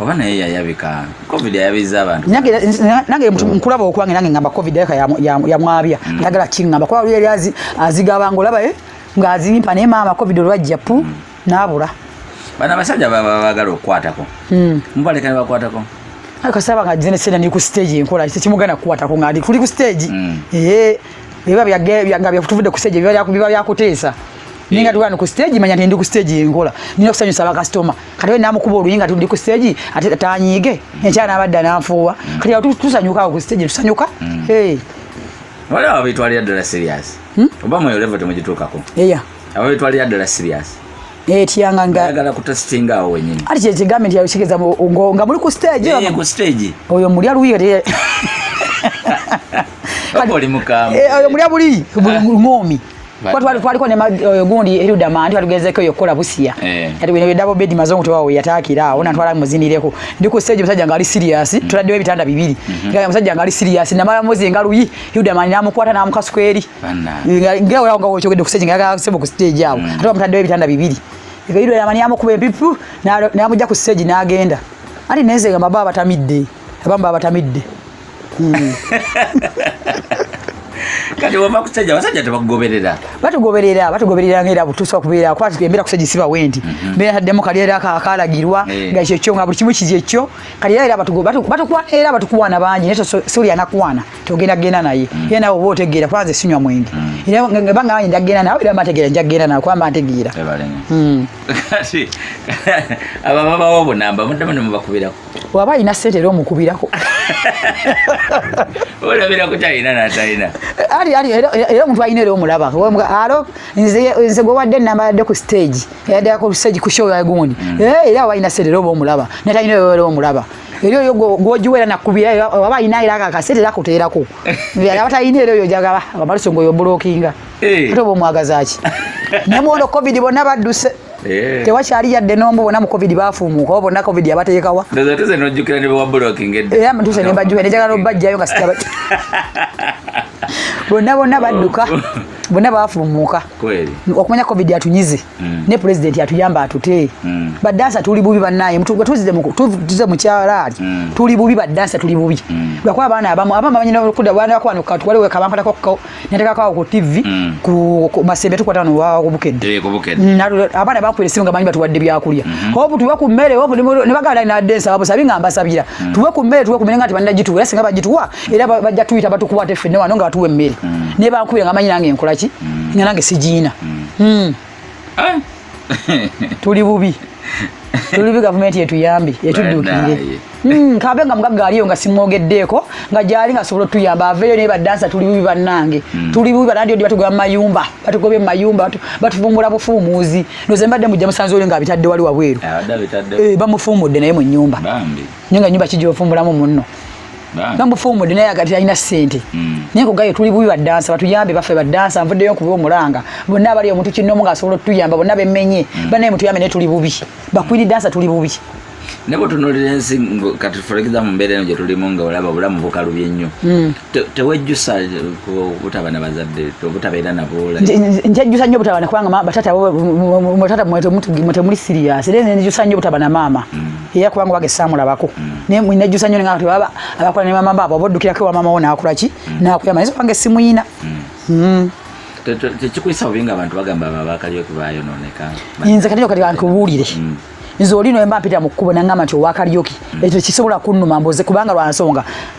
oba naye yayabika covid yayabizza abantu nange nkulaba okwange nange ngamba covid yaka yamwabya mm. njagala kingamba kuba luli yali azigabanga olaba eh, ng'azimpa naye maama covid olwajja pu mm. n'abula bano abasajja baba bagala okukwatako mm. mubaleka ne bakwatako kasaba nga jene sena ni ku stage enkola kiti kimugana kukwatako nga ali kuli ku stage ee biba byagabya kutuvudde ku stage biba byakuteesa naye nga tugaa ku stage manya nti ndi ku stage yenkola nina okusanyusa bakasitoma kati we namukuba oluyi nga tundi ku stage ate tanyiige enkya nabadda nanfuuwa kati awo tusanyukawo ku stage tusanyuka hmm. waliwo ababitwalira ddala serious hmm? oba mweyo levo temugituukako eya ababitwalira ddala serious etyanga nga ayagala kutasitinga awo wenyini ati kyekigambe nti yakitegeeza nga muli ku stage eh, ku stage oyo mulya luyi kati oli mukambwe eh, oyo mulya buli ah. ng'omi kuba twali twaliko ne eh, gundi eruda mandi twatugezeko eyo okukola busiya eh. kati bino bye double bed mazongo tewawo yataakira awo natwala muzinireko ndi ku stage musajja ngali serious mm-hmm. tuladdewo ebitanda bibiri mm-hmm. nga musajja ngali serious namala mozi nga luyi eruda mandi namukwata namukasukweri nga olaba nga wokyogedde ku stage nga yagasebo ku stage awo mm. ate bamutaddewo ebitanda bibiri eruda yamani yamukuba empipu namujja ku stage nagenda anti nenze nga baba abatamidde abamu baba abatamidde kati wava kusajja basajja tebakugoberera batugoberera batugoberera ngaera butuusa okubeera kuba tugembeera kusajja siba wendi mhm. mbeera taddemu kali era kalagirwa eh. nga ekyo kyo nga buli kimu kiri ekyo kati era era batukuwa era batukuwaana bangi naye suli anakuwaana togenda genda naye mm. era nawe oba otegeera kuba nze sinywa mwenge mm. era banga bangi njagenda nawe era mbategeera njagenda nawe kuba mbantegeera mm. kati abo ababawo obunamba muddemu ne mubakubirako waba alina sente era omukubirako olabira kutalina natalina ali ali era omuntu alina era omulaba alo nze nze gwewadde enamba yadde ku stage yadde ku stage ku show yagundi mm. eh, era waba alina sente era oba omulaba natalina era omulaba era oyo gwogiwa era nakubira waba alina era kakasente era kuteerako aba talina era oyo jagaba amaluso ngaoyo bulokinga eh. ate oba omwagazaki nemwono covid bonna badduse Eh. tewakyali yadde n'omu bona mu covid baafumuuka oba bonna covid yabateekawa nze nojjukira ne bawa blocking edda era mutuse ne mbajjukira ne njagala obajjayo nga sitaba bonna bonna badduka oh. bonna baafumuuka okumanya covid atunyize mm. ne pulezidenti atuyamba atute mm. badansa tuli bubi bannaye tuze mukyalaali mm. tuli bubi badansa tuli bubi lwakuba abaana abamu abamu bamanyi nokuda baana bakwana katuwaliwe kabankalako natekako awo ku tv mm. ku masembe tukwata no wa ku bukedde mm, abaana bakwere simu ngamanyi batuwadde byakulya mm-hmm. hobu tuwe ku mmere hobu ne bagala na densa babo sabi ngamba sabira mm. tuwe ku mmere tuwe ku mmere ngati banna jitu era singa bajituwa era bajja tuyita batukwate ffe ne wano nga tuwe mmere ne bakwere ngamanyi nange nkolaki nga nange sijina eh? tuli bubi tuli bubi gavumenti yetuyambi etudduukirire hmm, kabe nga mugagga aliyo nga simwogeddeeko nga gyali nga sobola otuyamba aveeyo naye badansa tuli bubi bannange hmm. tuli bubi banandi odi batugoba mumayumba batugobye mu mayumba batufumbula bufuumuuzi noze mbadde mujja musanze oli nga abitadde wali wabweru ah, eh, bamufuumudde naye mu nyumba nyo nga nyumba kijja ofumbulamu munno nga mufumudde naye agati alina sente mm. naye kugayo tuli bubi badansa batuyambe baffe badansa nvuddeyo nkuba omulanga bonna abali omuntu kinnomu nga asobola otuyamba bonna bemenye mm. banaye mutuyambe naye tuli bubi bakwini dansa tuli bubi naye bwetunulira ensi kati furekiza mu mbeera eno gyetulimu nga olaba obulamu bukalubye nnyo mm. tewejjusa obutaba na bazadde obutabeera naboola njejjusa nnyo obutaba nakubanga batata mwetemuli siriyasi era njejjusa nnyo obutaba na maama era kubanga wage samulabako naye nejjusa nyo nengamba tebaba abakola ne mama baabo obaddukirako ewa mama wo naakula ki naakuyamba naye wange simuyina hmm. tekikuyisa bubi nga abantu bagamba babakaliyo kubayonooneka nze kati kati kankubuulire hmm. nze oli noyemba mpita mu kkubo nangamba nti owakalyoki hmm. ekyo tekisobola kunnuma mboze kubanga lwansonga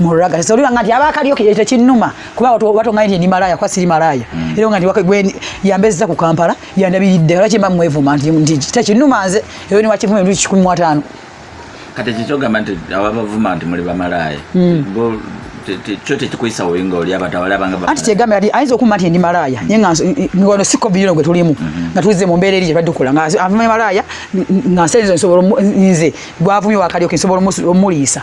muraga so liwa ngati abakaliyo kiyete kinuma kuba watu watu ngani ni malaya kwa siri malaya mm. ero ngati wakwe gweni yambeza ku Kampala yandabiride laki mba mwevu manti ndi ta kinuma nze ero ni wakivume ndi 15 kati kichoga manti abavuma ndi muli ba malaya mm. bo kyo tekikuisa oyinga oli abatawala abanga anti kyegambye ati ayinza okuma nti ndi malaaya naye nga ngono siko biyino gwe tulimu mhm. nga tuzze mu mbeera eri gye tubadde tukola nga avuma malaaya nga nsenzo nsobola nze gwavumye wakalyoka nsobola omuliisa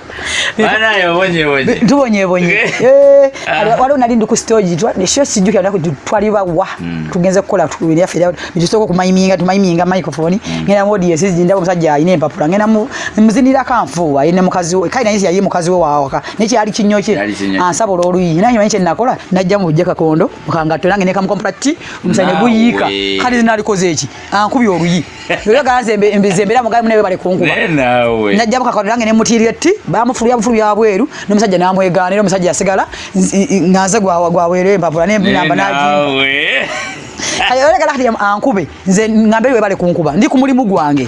tubonyebonye eh, ah. waliwo nali ndi ku stogi sio sijjukira naku twali bawa hmm. tugenze kukola byaffe bitusooka okumayiminga tumayiminga microphone hmm. ngenda mu odies zindaba omusajja alina empapula ngenda muzindirako anfuuwa ye ne mukazi we kale naye yaye mukazi we wawaka naye kyali kinyo kye ansaba olwoluyi naye manyi kyenakola najja mu bujja kakondo mukangatto nange nekamukompula ti omusajja ne guyiika kale nalikoze eki ankubye oluyi yoyogaanzembera mugamu naye bale kunkuba najja bukakano nange nemutiirira etti bamufulubya bufulu bya bweru nomusajja namwegaanira omusajja yasigala nga nze gwaweera embabula nembinamba nagimba kati olekala kati ankube nze ngambe webale kunkuba ndi ku mulimu gwange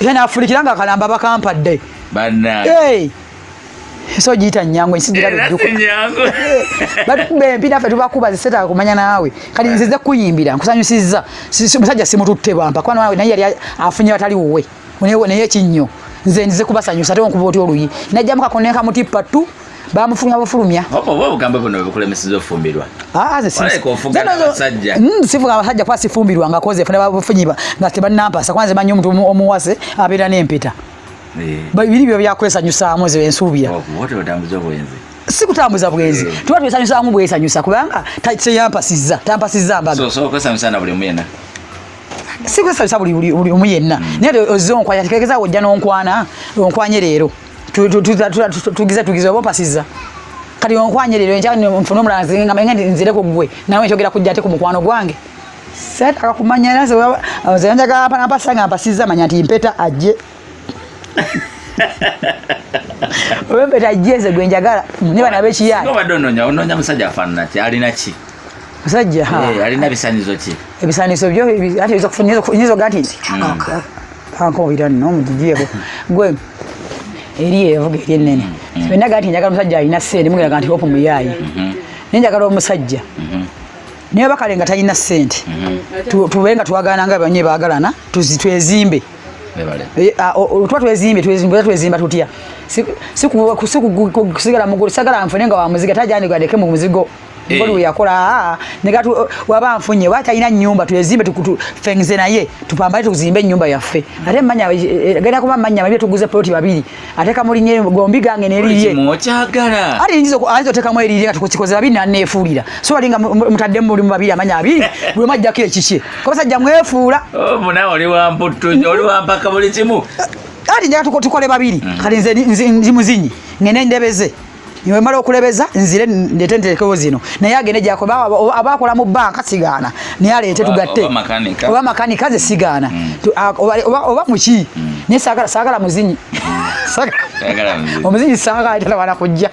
yena afulikira nga kalamba bakampadde banaye so giyita nyangu ensi girabedukbatukuba empi naffe tubakuba zisetaga kumanya naawe kati nzize kuyimbira nkusanyusizza musajja simututte bwampa kuba nawe naye yali afunye batali wuwe naye ekinnyo nze nzize kubasanyusa ate onkuba otya oluyi najjamukako nenkamutippa tu bamufunga bafulumya obugamba buno webukulemeseza ofumbirwa ah, mm, sifuga abasajja kuba sifumbirwa nga koze funa bafunyiba nga tebanampasa kuba nze manyi omuntu omuwase abeera n'empeta eh. biri byo byakwesanyusaamu ze ensuubira oh, si kutambuza bwenzi eh. tuba twesanyusaamu bwesanyusa kubanga teyampasizza tampasizza mbaga sikwesanyusa buli omu yenna mm. naye ozze onkwanya tekekezaawo ojja n'onkwana onkwanye leero tugize tugize oba opasiza kati onkwanye lero enkya nfuna omulala nzinga manya nti nzire ku gwe nawe nkyogera kujja ate ku mukwano gwange setaka kumanya era nze njagala napasa nga mpasiza manya nti mpeta ajje oba empeta ajje nze gwe njagala ne bana bekiyaye obadde ononya ononya musajja afaanana ki alina ki musajja eh, alina bisanizo ki ebisanizo byo ate nyinza oga nti kankowira nno mugijiyeko gwe eri evuga eri enene mm-hmm. fenna gati njagala omusajja alina sente mugeraga nti hope muyaaye mm-hmm. naye njagala omusajja mm-hmm. naye bakale nga talina sente tube nga twagana nga banye bagalana twezimbe eh, ah, tuba twezimbe twezimba tutya sikusigala mugulu sagala nfune nga wamuziga tajandigadeke mu muzigo ngoli we yakola ah, ah. negatu oh, waba nfunye wata ina nyumba tuyezimbe tukutu fengize naye tupambale tuzimbe nyumba yaffe ate manya eh, eh, eh, genda kuba manya mabye tuguze ploti babiri ate kamuli nye gombi gange neriye mochagala ari njizo anzo teka mwe eriye tukikoze babiri na nefulira so alinga mutadde mu limu babiri amanya abiri bwe majja kile chichi kwa sababu jamwefuula oh muna oli wa mputu oli wa mpaka buli kimu ari njaka tukotukole babiri mm. kali nze nzi muzinyi ngene ndebeze niwemala okulebeza nzire ndete ntekewo zino naye agende gyako aba akola mu banka sigaana naye aleete tugatte oba makanika ze sigaana mm. oba muki mm. naye saagala muzinyi mm. omuzinyi saagalawana kujja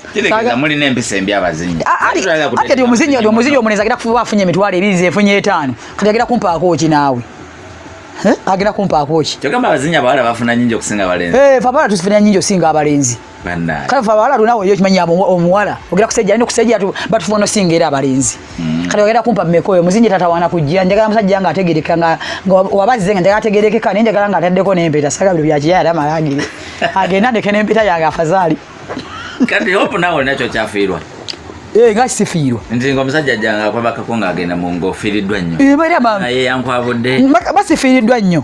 ati omuzinyi omuzinyi omunezi agenda kufuba afunye emitwalo ebiri zefunye etaano kati agenda kumpaako ki naawe agenda kumpaako ki kyogamba abazinyi abawala bafuna nyingi okusinga abalenzi eh, fabala tusifunira nyingi okusinga abalenzi Bandaye. Kale fa bawala lunawo yo kimanya omuwala. Ogera kusejja nyo kusejja tu but for no singera abalenzi. Mm. Kale ogera kumpa mmeko yo muzinje tata wana kujja njagala musajja nga ategereka nga wabazize nga ategereke ka ninja galanga ataddeko ne mpeta saga byo byaje yara malangire. Agenda ndeke ne mpeta yanga afazali. Kati hope nawo nacho chafirwa. Eh nga sifiirwa. Nze ngo musajja janga kwabaka ko nga agenda mu ngo firidwa nnyo. Eh bali abantu. Naye yankwabudde. Basifiridwa nnyo.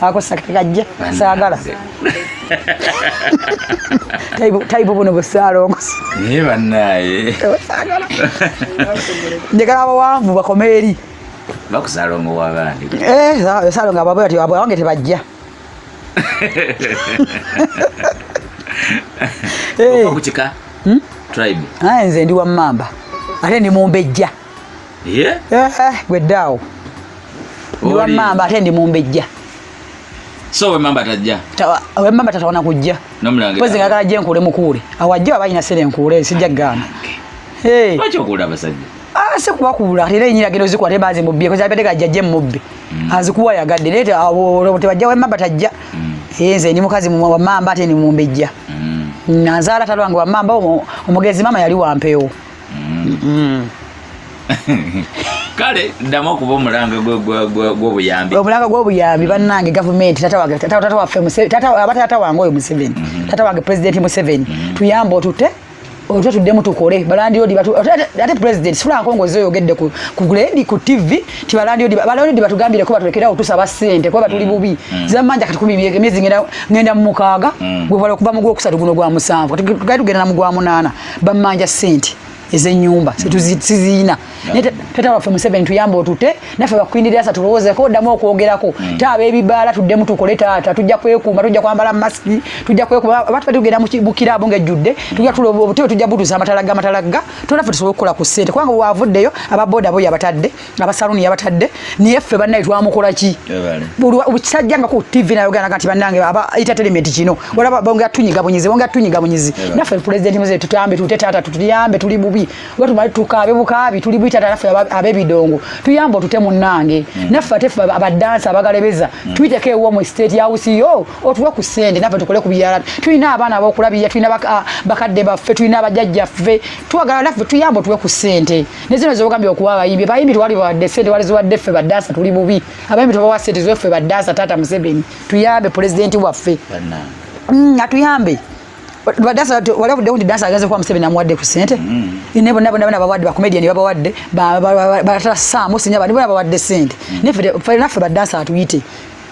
ako sakajja saagala tayibu buno busaalongosi naye banaye njagala abawanvu bakoma eri bakusalongo wabandi eh, salongo ababwe ati awange tebajja eh. kukika hmm? tribe nze ndi wamamba ate ndi mumbejja Eh, eh, gwe ddaawo ndi wammamba ate ndi mumbejja so wemamba tajja wemamba tatawana kujja pozi ngagala je nkuule mukuule awajja aba alina sente nkuule sijja kugamba lwaki okuula abasajja ah, si kubakuula era enyiragiro zikuwa te bazimubbye kozi abadde gajja je mubbi mm. azikuwa yagadde naye tebajja wemamba tajja mm. eh, nze ndi mukazi wamamba ate ndi mumbejja mm. nazaala talwange wamamba omugezi mama yali wampeewo mm. kale ddamu okuba omulanga gwobuyambi omulanga gwobuyambi bannange gavumenti tata wange oyo museveni mhm. tata wange pulezidenti museveni mhm. tuyambe otute otwe tuddemu tukole balandiodi ate pulezidenti sifulankongozi oyogedde ku ledi ku tv ti balandiodi batugambireko batulekerawo tusaba sente kuba batuli mm. bubi mm. zamanja kati kumi myezi ngenda mumukaaga mm. gwebala okuva mu gwokusatu guno gwa musanvu kati tugenda na mugwa munaana bamanja sente ezenyumba situzina naye tata waffe museveni tuyamba otute naffe bakwindirira sa tulowoozeko oddamu okwogerako mm. taaba ebibaala tuddemu tukole taata tujja kwekuuma tujja kwambala masiki tujja kwekuuma oba tuba tugenda mu kiraabu ng'ejjudde tujja tuloba obutebe tujja butuza amatalagga amatalagga tona ffe tusobole okukola ku ssente kubanga waavuddeyo aba boda boyo abatadde abasaluni yabatadde naye ffe bannaye twamukola ki kisajja nga ku tv nayogana kati bannange aba entertainment kino olaba bonga tunyiga bunyizi bonga tunyiga bunyizi naffe pulezidenti muze tutambe tute taata tutuyambe tuli bubi wetumali tukaabe bukaabi tuli bubi taata naffe ab'ebidongo tuyambe otute munnange hmm. naffe ate ffe abadansi abagalebeza hmm. tuyiteko ewo mu state house yo otuwe ku sente naffe tukole ku biyala tulina abaana abokulabirira tulina bakadde baffe tulina abajajjaffe twagala naffe tuyambe otuwe ku sente ne zino zobagambye okuwa abayimbi bayimbi twali bawadde sente wali ziwadde ffe baddaasa tuli bubi abayimbi tubawa sente ziwe ffe baddaasa taata museveni tuyambe pulezidenti waffe mm, atuyambe badasa wala bude undi dansa agaze kwa msebe na mwade kusente mm. inebo nabo nabo babawade ba comedian baba wade ba ba ta samu sinya ba nabo babawade sente mm. ne fere fere na fere dansa atuyite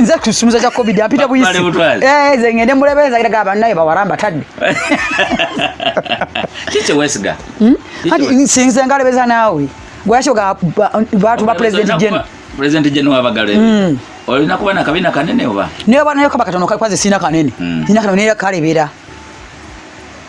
nze kusumuza kya covid apita buyisi eh, ze ngende mulebeeza kiraga bannaye bawaramba tadde kikyewesiga hmm? kati sinze ngalebeza naawe gwaki oga batu ba president gen president gen wabagale hmm. olina kuba nakabina kanene oba naye banayo kaba katono kakwaze sina kanene hmm. sina kanene kalebera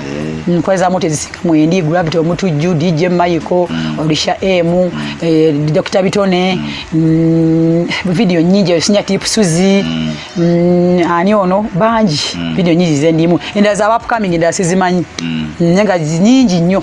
mm. nkwezamu tezisika mwendi gravity omutujju dj michael mm. orisha emu eh, dr bitone mm. video nyingi osinya tip suzi ani ono bangi video nyingi zendimu endala za upcoming endala sizimanyi nenga nyingi nnyo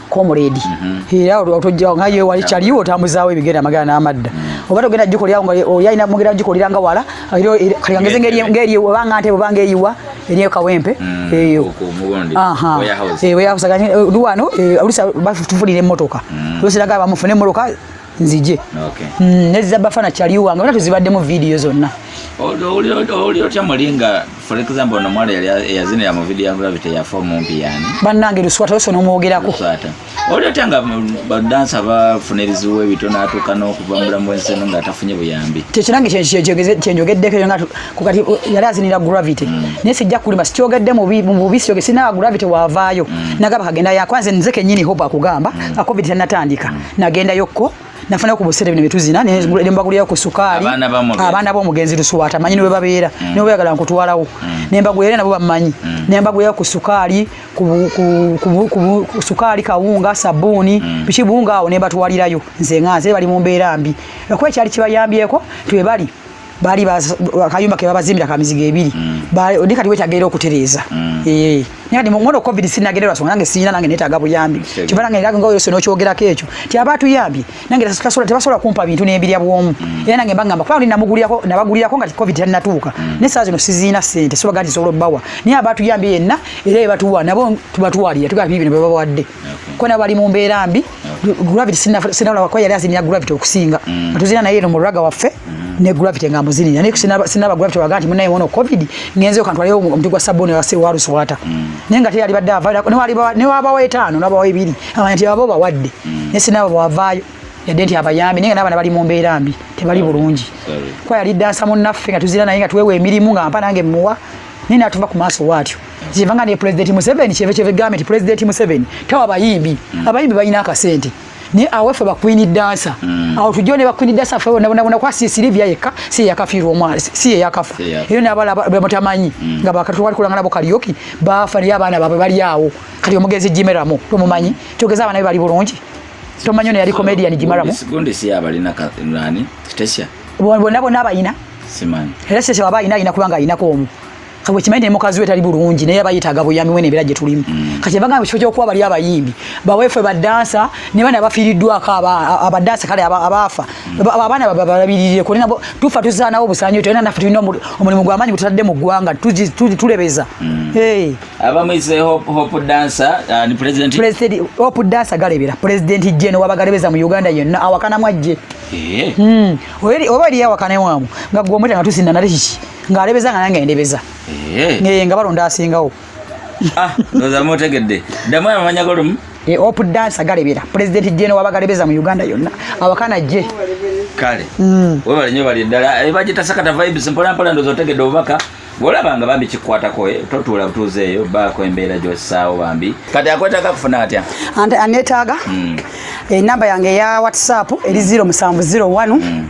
comrade mhm. era otojja nga yewe wali chali yo tamuzaawo ebigere amagana n'amadda mhm. oba togenda jiko lyawo nga oyina mugera jiko liranga wala ero kali ngeze ngeri ngeri obanga ante obanga eyiwa eriyo kawempe mhm. eyo aha ewe yakusaganya luwano olusa bafutulire motoka lusiraga bamufune motoka nzije okay. mm, neza bafana chali wange bana tuzibaddemu video zonna oli otya muli nga for example no mwala eyazinira mu video ya gravity ya form mumpi yani bannange luswata ose nomwogerako oli otya nga badansa bafuna ebizibu ebito natuuka n'okuva mulamu wensi eno nga atafunye buyambi kyekinange kyenjogeddeko nga kukati yali azinira gravity mm. naye sijja kulima sikyogedde mu bubi siyoge sinawa gravity wavaayo mm. nagaba kagenda yakwanze nze kenyini hope akugamba mm. akovidi tanatandika nagendayo ko nafuna ku busere bino bituzina ne mm. mbagulira ku sukali abana bo mugenzi lusuwata manyi niwe babera mm. niwe bagala nkutwalawo mm. ne mbagulira nabo bamanyi mm. ne mbagulira ku sukali ku, ku, ku, ku, ku sukali kawunga sabuni mm. bichi bunga awo ne batwalirayo nze nganze bali mu mbera mbi ekwe kyali kibayambyeko twe bali baali akayumba kebabazimbira ka mizigo ebiri mm. ndi kati wetageera okutereeza mm. eh, naye kati mwana covid sinagererwa songa nange sirina nange netaaga buyambi kiba nange era nga yose nokyogerako ekyo ti aba atuyambye nange tebasobola kumpa bintu n'ebirya bwomu mm. era nange mbagamba kuba ndi namugulirako nabagulirako nga covid tannatuuka naye saa zino siziina sente sobaga nti sobola obbawa naye aba atuyambye yenna era ebatuwa nabo tubatwalira tugaba bibino bebabawadde kuba nabo bali mu mbeera mbi gravity sinalaba kwa yali azinira gravity okusinga mm. tuzina naye no muraga waffe mm. ne gravity nga muzinira naye sinaba sinaba gravity waganti munaye wono covid ngenze okantu aliyo omuntu gwa sabuni wa se waru swata mm. naye ngati yali badda avaya ne wali ne waba wa etano naba wa ibiri amanti abo ba wadde mm. ne sinaba wa vayo yadde nti abayambi naye nga n'abaana bali mu mbeera mbi tebali bulungi kwa yali dansa munnaffe nga tuzira naye nga tuweewa emirimu nga mpa nange muwa naye natuva ku maaso waatyo kyeva nga ne pulezidenti museveni kyeva kyeva egambe nti pulezidenti museveni tawa abayimbi mm. abayimbi balina akasente naye aweffe bakwini dansa mm. awo tujjo ne bakwini dansa fe bonabona kwa si silivia yekka si yakafiirwa omwana si yeyakafa eyo nabala bemutamanyi mm. nga bakatwali kulanga nabo kaliyoki baafa naye abaana baabwe bali awo kati omugenzi jimeramo tomumanyi togeza abaana be bali bulungi tomanyi ono yali comedian jimeramo bona bona abayina era sese waba ayina ayina kubanga ayinako omu Kawe kimanyi ne mukazi we tali bulungi naye abayitaga buyami wene bera jetulimu. Mm. Kati baga kifo kyo kuwa bali abayimbi. Ba wefe ba dancer ne bana bafiridwa ka aba aba dancer kale aba abafa. Mm. Ba abana baba balabirire ko nabo tufa tuzana obo sanyo tena na fitino omulimu gwa manyi kutadde mu gwanga tuji tuji tulebeza. Mm. Hey. Aba mwize hope hope dancer uh, ni president. President hope dancer galebira. President Jane wabagalebeza mu Uganda yenna awakana mwajje. Eh. Mm. Oyeri obali awakana mwamu. Ngagwo mwita ngatusinda na rishi. ng'alebeza nga nange ndebeza eh. ngeye nga balonda asingawo ah, ndoza mutegedde ddamu amamanya golumu eh, op dansa galebera pulezidenti jeno wabagalebeza mu uganda yonna awakana je kale mm. webale nyo bali ddala eh, bagitasakata vibes mpolampola ndoza otegedde obubaka bwolaba nga bambi kikwatako totuula butuuza eyo baako embeera gyosaawo bambi kati akwetaaga kufuna atya anetaaga mm. enamba yange eya whatsapp eri 0 musanvu 0 1 mm.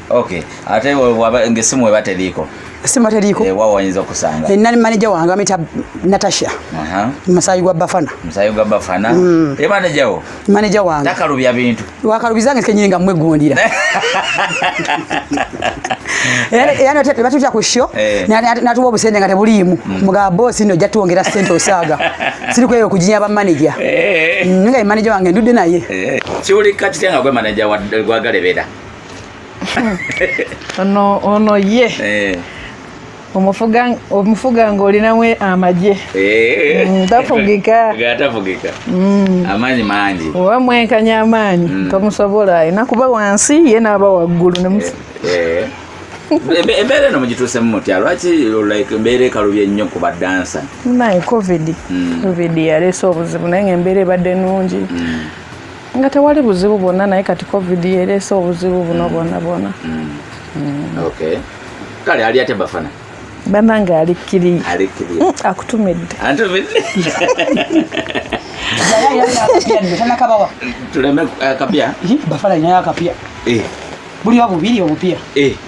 Okay. Ate waba ngesimu weba teliko. Simu teliko. Eh, wao wanyinza kusanga. Eh, nani manager wangu amita Natasha. Aha. Masayi gwa Bafana. Masayi gwa Bafana. Mm. Eh, manager wo. Manager wangu. Takarubya bintu. Wakarubizange kenyinga mwe gondira. Yaani yaani ate batu cha kusho. Eh. Na tuwa busende ngate bulimu. Mm. Mga boss no jatu ongera sente osaga. Sili kweyo kujinya ba manager. Eh. Nga manager wange ndude naye. Eh. Chuli kati tenga kwa manager wa gwa galebeda. ono ono ye eh. omufuga omufuga ng'olinamu amagye eh. mm, tafugika gatafugika mm. amaanyi mangi oba mwenkanya amaanyi mm. tomusobola alina kuba wansi ye n'aba waggulu eh, embeera eno mugituusemu mutya lwaki like embeera ekalubye nnyo ku badansa naye covid covid yaleese obuzibu naye nga embeera ebadde nungi nga tewali buzibu bwonna naye kati covid yereese obuzibu buno bwona bwona kale ali atya bafana banange alikkiriye mm, akutumidde tuleme eh, akapya bafana inayo akapya eh. buliwa bubiri obupya eh.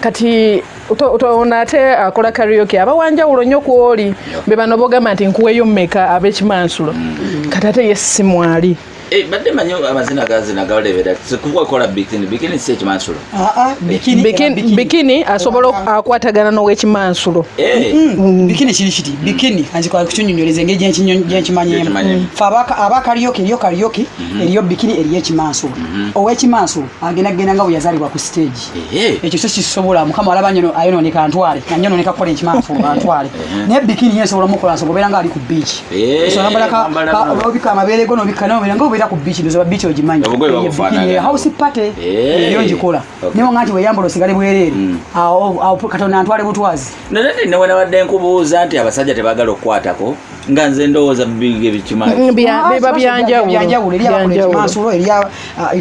kati otoona ate akola uh, karaoke aba wanjawulo nnyo kwoli be bano bogamba nti nkuweyo mmeka ab'ekimansulo mm. kati ate ye si mwali eh, badde manyi amazina gazina gawulebera kukola bikini bikini si ekimansulo ah, ah, eh. bikini asobola ah, akwatagana n'owekimansulo eh. mm, mm. bikini kiri kiti bikini anzikola kukinyonyoleza engeri gyenkimanyemu fe aba karaoke eriyo karaoke mm-hmm. eriyo bikini eriyo ekimansulo mm-hmm. owekimansulo agenda kugenda nga bwe yazaalibwa ku stage ekyo kyo kisobola mukama alaba nyo ayononeka antwale nanyononeka kukola ekimanfu antwale naye bikini nyo esobola mukola nsobola obeera nga ali ku biiki esobolambalakaobika amabeere go nobikka naobeera nga obeera ku biiki ndozoba biiki ogimanyi house party eyo ngikola naye nga nti weyambala osigale bwereere mm. katonda antwale butwazi nanate newenabadde nkubuuza nti abasajja tebagala okukwatako nga nze ndowooza bibiga ebikimabyanjawulomansulo mm, erya ah,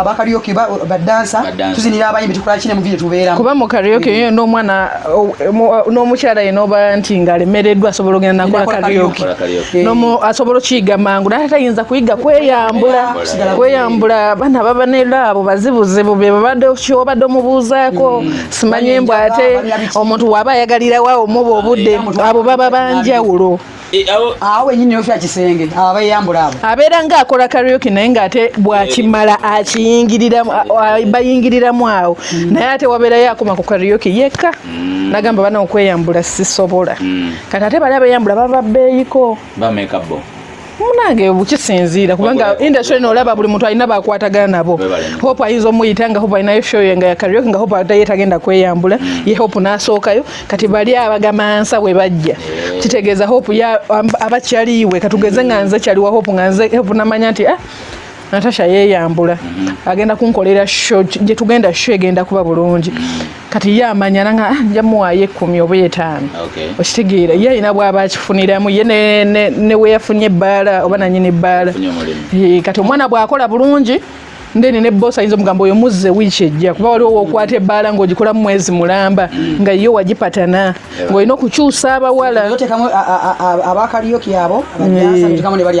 abakaryoki badansa tuzinira abayimbi tukola kine muvire tubeeramu kuba mu karyoki yo n'omwana n'omukyala ye n'oba nti nga alemereddwa asobola ogenda nakola karyoki asobola okuyiga mangu naye tayinza kuyiga kweyambula kweyambula bana baba nelaabo bazibuzibu bebabadde kyobadde omubuuzaako mm. simanyi mbu ate omuntu waba ayagalirawa omuba obudde abo baba banjawulo e, awo wenyini yofya kisenge abo abayambula abo abeera nga akola karioki naye nga ate bwakimala eh. akiyingiriramu bayingiriramu awo hmm. naye ate wabeerayo akoma ku karioki yekka hmm. nagamba bana okweyambula sisobola hmm. kati ate bali abeyambula baba beeyiko bamekabo munange kisinziira kubanga industry eno olaba buli muntu alina bakwatagana nabo hope ayinza omuyita nga hope alinayo show ye nga ya karaoke nga hope ataye tagenda kweyambula mm. ye hope n'asookayo kati bali abagamansa bwe bajja eh. kitegeeza hope abakyaliiwe katugeze nga nze kyaliwa hope nga nze hope namanya nti ah, natasha yeyambula mm-hmm. agenda kunkolera sho gye tugenda sho egenda kuba bulungi mm-hmm. kati ye amanya nanga ah, nja muwaayo ekkumi oba etaano okitegeera ye alina bwaba akifuniramu ye neweyafunye ebbaala oba nanyini ebbaala eh, kati omwana bwakola bulungi ndeni ne boss ayinza omugamba oyo muzze wiiki ejja kuba waliwo wokwata ebbaala ng'ogikolamu mwezi mulamba mm. nga yo wagipatana ng'olina okukyusa abawala abakaliyo kyabo abajasa mm. ne bali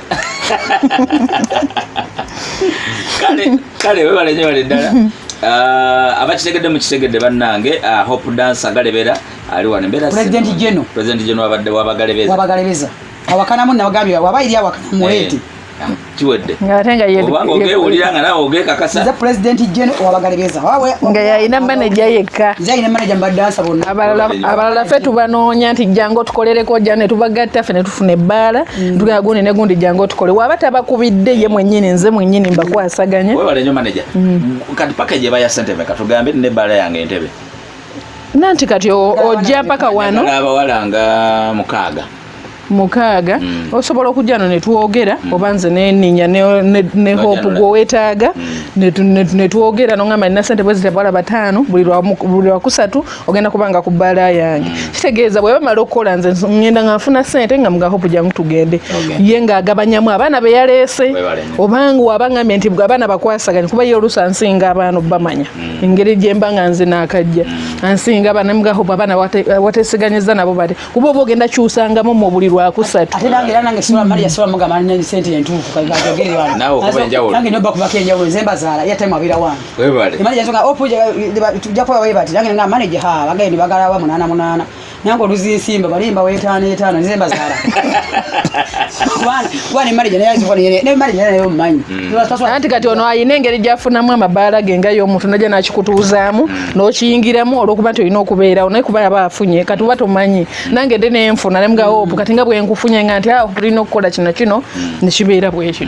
kale kale webale nyo bale ddala ah, abakitegedde mukitegedde bannange ah, hope dansa galebera ali wano embeerapresident geno president geno wabagalebeeza wabagalebeeza awakanamu nabagambye waba iri awakana muwete eh, ah, kiwedde obanga ogewulira nga nawe ogekakasa nze president geno wabagalebeeza nga yalina maneja yekka nze alina maneja mbadansa bonna abalala fe tubanoonya nti jangu otukolereko ja ne tubagatta fe ne tufuna ebbaala Mm. Tugaa gundi ne gundi jangu otukole waba tabakubidde ye mwenyini nze mwenyini mbakwasaganye wewalenyo maneja mm. kati paka gye baya sente meka tugambe ne bala yange entebe nanti kati ojja paka wano abawala nga mukaaga mukaaga mm. osobola okujja no netwogera mm. oba nze neninya ne, ne, ne hope gwewetaaga mm. netwogera nongamba nina sente bwezitebwala bataano buli lwakusatu ogenda kubanga ku bbaala yange mm. kitegeeza bwe bamala okukola nze ngenda nga nfuna sente nga muga hope jangu tugende ye ng'agabanyamu abaana be yaleese obanga waba ngambye nti abaana bakwasaganye kuba ye oluusi ansinga abaana obamanya mm. engeri gye mba nga nze naakajja mm. ansinga abaana muga hope abaana wateesiganyizza nabo bate kuba oba ogenda kyusangamu mu buli lwakusatu nawe okuba enjawulo nange nobakubako enjawulo nze mbazaala yatemu abira wange webale manager songa opu tujja kuba webati nange nga manager ha bagende bagala wa munana munana nange oluzi nsimba balimba wetaano etaano nze mbazaala kubana manager naye azifuna yene ne manager naye omumanyi mm. anti kati ono ayina engeri gyafunamu amabaala ge nga y'omuntu najja nakikutuuzaamu mm. n'okiyingiramu olwokuba nti olina okubeerawo naye kuba yaba afunye kati uba tomanyi mm. nange de nenfuna nemuga opu kati nga bwenkufunye nga nti awo ah, tulina okukola kino kino nekibeera bwekityo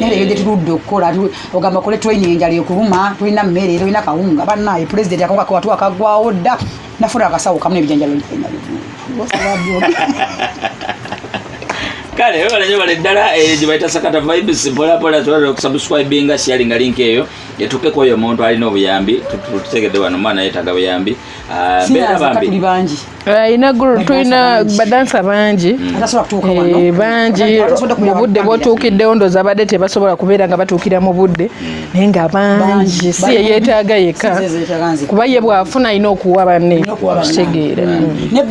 naye eyo gyetuludde okukola ogamba kole training enjala ekuluma tulina mmere tulina kawunga banaye pulezidenti akawungako watu akagwawo dda nafuna akasawo kamu nebijanjalo kale webalanyo bale ddala eh, gyebayita sakata vibes mpolapola twala okusubscribinga sharinga link eyo etuke kwoyo omuntu alina obuyambi tutegedde wano mwana yetaga buyambi Ah, tuli bangi alina ah, gulu tulina badansa bangi eh, bangi mu budde bwotuukiddewo ndoza badde tebasobola kubeera nga batuukira mu budde hmm. naye nga bangi si yeyeetaaga yekka kuba ye bwafuna alina okuwa banne okitegeera hmm. ne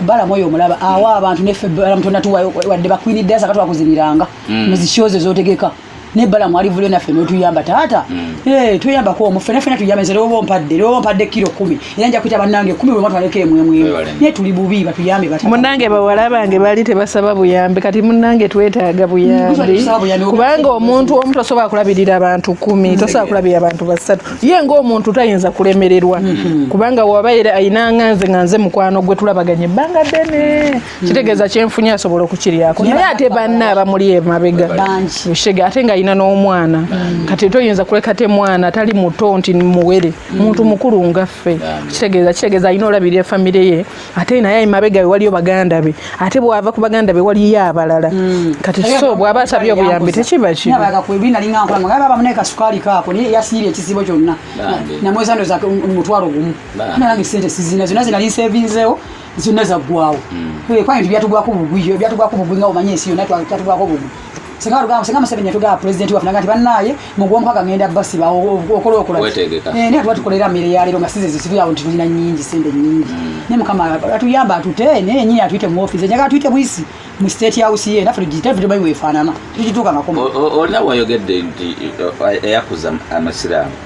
balamu oyo omulaba awa abantu neffe balamu tonatuwayo wadde bakwinidde asakatwakuziniranga hmm. muzikyozo ezotegeka ne bala mwali vule nafe no tuyamba tata mm. eh tuyamba ko mu fena fena tuyamba zero bo mpadde ro mpadde kilo 10 era nja kuita banange 10 bwe mwatu aleke mwe mwe ne tuli bubi ba tuyambe bata munange ba wala bange bali te basaba buyambe kati munange twetaaga buyambe mm, kubanga omuntu omuntu asoba kulabirira abantu 10 mm. tosoba kulabirira abantu basatu ye ngo omuntu tayinza kulemererwa mm-hmm. kubanga wabaira ayinanga nze nganze mukwano gwe tulabaganye banga bene kitegeeza kyenfunye asobola okukiryako naye ate banna abamuli emabega ushega ate nga alina n'omwana mm. kati toyinza kuleka te mwana atali muto nti muwere mm. muntu mukulu ngaffe kitegeeza kitegeeza alina olabirira famire ye ate naye emabega we waliyo baganda be ate bwava ku baganda be waliyo abalala mm. kati so bwaba asabye obuyambi tekiba kibi zonna zaggwawo hmm. kwani nti byatugwako bugwi byatugwako bugwi nga omanye ensi yonna kyatugwako bugwi singa tugamba singa museveni yatugamba pulezidenti waffe naga nti bannaaye mu gwomukaaga ngenda basiba okola okola eh, naye tuba tukolera mmere ya leero nga size zisibira awo nti tulina nnyingi sente nnyingi hmm. naye mukama atuyamba atute eh, naye nyini atuyite mu ofiisi enjaga atuyite bwisi mu state house ye naffe tugiyite ffe tumanyi weefaanana tugituuka makoma olina wayogedde nti eh, eyakuza amasiraamu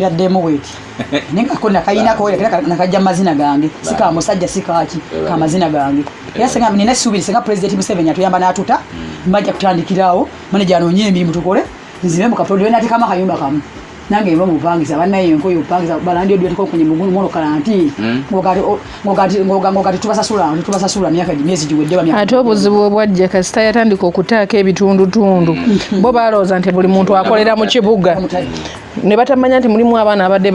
yadde emu bweti naye kako nakayinako nakajja mazina gange sika musajja sikaki ka mazina gange era senga nina essuubiri senga pulezidenti museveni atuyamba n'atuta mm. mbajja kutandikirawo maneja anoonye emirimu tukole nzibe mu katonda we nateekamu akayumba kamu nange mba mupangisa banaye enkoyo upangisa balandi odweteka okunye mugulu mwono kalanti mm. ate obuzibu bwe bwajja kasita yatandika okutaako ebitundutundu mm. bo balowooza nti buli muntu akolera mu kibuga ne batamanya nti mulimu abaana abadde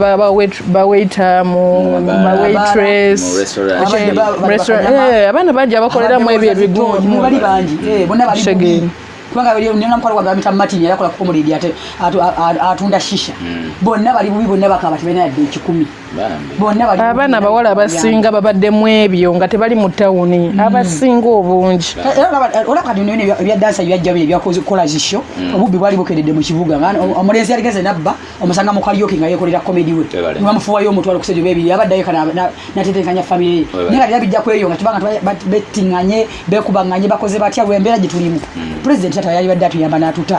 bawaita muwaitres abaana bangi abakoleramu ebyo ebiguumusegeni eh, kubanga bali nina mkwalo gwa gamita matini yakola kukomulidi ate atunda shisha mm. bonna bali bubi bonna bakaba tibena yadde ekikumi abaana abawala abasinga babadde mu ebyo nga tebali mu tawuni hmm. abasinga obungi ebyadansabyajjaebyakolazisyo hmm. obubbi bwali bukededde mu kibuga hmm. omulenzi yaligeze nabba omusanga mukalyoki nga yekolera komedi we nibamufuwayo omutwalo kusente bebiri abaddayo natetenkanya famire ye naye nga tera bijja kweyo nga tubanga betinganye bekubanganye bakoze batya lwembeera gyetulimu pulezidenti ata yalibadde atuyamba natuta